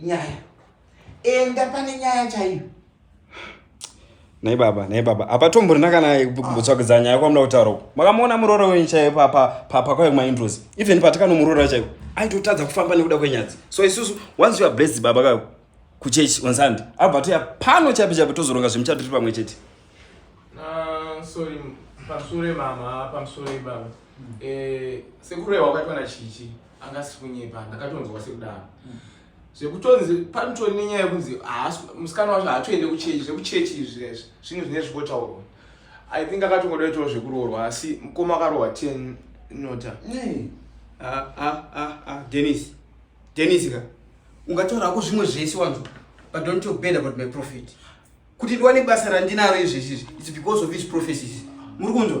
nyaya enda pane nyaya chaiyo nhai baba nhai baba hapatombonina kana kutsvakidza ah. nyaya kwamuda kutaura uku makamuona muroora wenyu chaiyo pakauya kumaindrozi even patikanomuroora chaiyo aitotadza kufamba nekuda kwenyadzi so isusu once youare blessed baba kayo kuchechi on sunday abva toya pano chaipo chaipo tozoronga zvemuchato tiri pamwe chete ah, sorry pamusure mama pamusure baba eh, sekurehwa kwatwana chichi anga asiri kunyepa ndakatonzwa sekudaro mm. zvekutonzi panotori nenyaya yekunzi musikana wacho haatoende kuchechi zvekuchechi izvi zvezvi zvinhu zvine zvikotaurwa i think akatongoda itoo zvekuroorwa asi mukoma akarohwa ten nota ah, ah, ah, denis denis ka ungataura hako zvimwe zvese wanzwa but don't talk bad about my profit kuti ndiwane basa randinaro izvezvizvi its because of his prophecies muri kunzwa